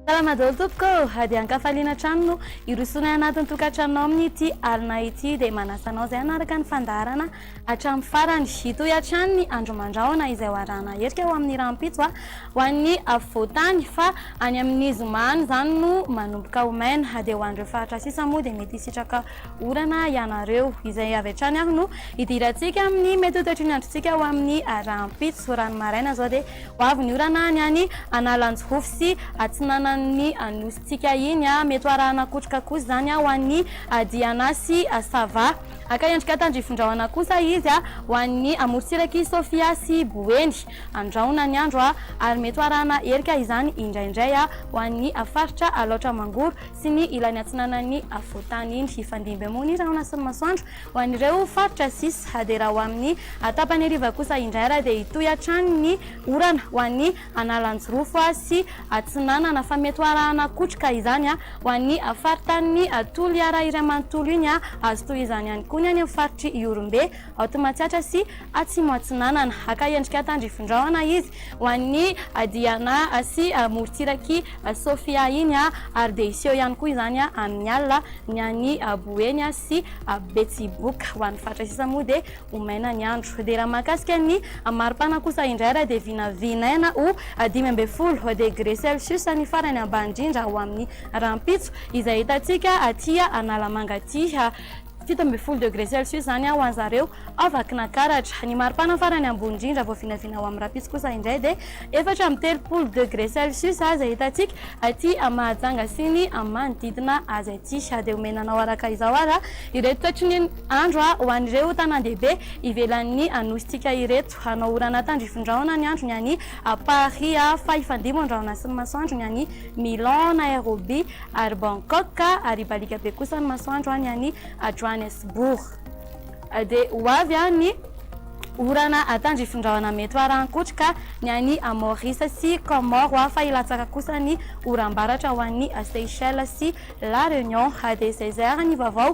Salama daholo tompoko ô, hadian-kafaliana hatrany no hirosoana anatin'ny tokantranonao amin'ity alina ity dia manasa anao izay hanaraka ny fandaharana hatramin'ny farany. Hitohy hatrany ny andro aman-drahona izay ho arahana erika ho amin'ny rahampitso ho an'ny afovoan-tany fa any amin'ny zoma any izany no manomboka ho maina dia ho an'ireo faritra sisa moa dia mety hisitraka orana ianareo. Izay avy hatrany ary no hidirantsika amin'ny mety ho toetry ny androntsika ho amin'ny rahampitso. Raha ny maraina izao dia ho avy ny orana any any Analanjirofo sy atsinanan'ny Nosy-tsika iny. Mety ho arahana kotroka kosa izany ho an'ny Diana sy Sava. Haka endrika tandrifindrahona kosa izy ho an'ny amorontsirak'i Sofia sy Boeny. Andrahona ny andro ary mety ho arahana herika izany indraindray ho an'ny faritra Alaotra Mangoro sy ny ilany atsinanan'ny afovoan-tany iny. Hifandimby moa ny rahona sy ny masoandro ho an'ireo faritra sisa dia raha ho amin'ny tapany hariva kosa indray ary dia hitohy hatrany ny orana ho an'ny Analanjirofo sy Atsinanana fa mety ho arahana kotroka izany ho an'ny faritanin'i Toliara iray manontolo iny. Azo tohizany ihany koa ny any amin'ny faritr'i Ihorombe, Aotimatsiatra sy Atsimo Atsinanana. Haka endrika tandrifindrahona izy ho an'i Diana sy morontsirak'i Sofia iny ary dia hiseho ihany koa izany amin'ny alina ny any Boeny sy Betsiboka. Ho an'ny faritra sisa moa dia ho maina ny andro. Dia raha mahakasika ny maripana kosa indray dia vinavinaina ho dimy ambin'ny folo degré celsius ny farany ambany indrindra ho amin'ny rahampitso izay hitantsika aty Analamanga aty, fito ambin'ny folo degré celsius izany ho an'ny zareo ao Vakinakaratra. Ny maripana farany ambony indrindra vao vinavina ho amin'ny rahampitso kosa indray dia efatra amby telopolo degré celsius izay hitantsika aty Mahajanga sy ny manodidina azy aty. Dia omena anao araka izao ary ireto toetry ny. Andro ho an'ireo tanàn-dehibe ivelan'ny Nosintsika ireto. Hanao orana tandrifindraona ny andro ny any Paris, fa hifandimby an-drahona sy ny masoandro ny any Milan, Nairobi ary Bangkok, ary hibaliaka be kosa ny masoandro ny any Johannesburg. Dia ho avy ny orana tandrifindraona mety ho arahan-kotroka ny any Maurice sy Comores, fa hilatsaka kosa ny oram-baratra ho an'ny Seychelles sy La Réunion. Dia izay izay ary ny vaovao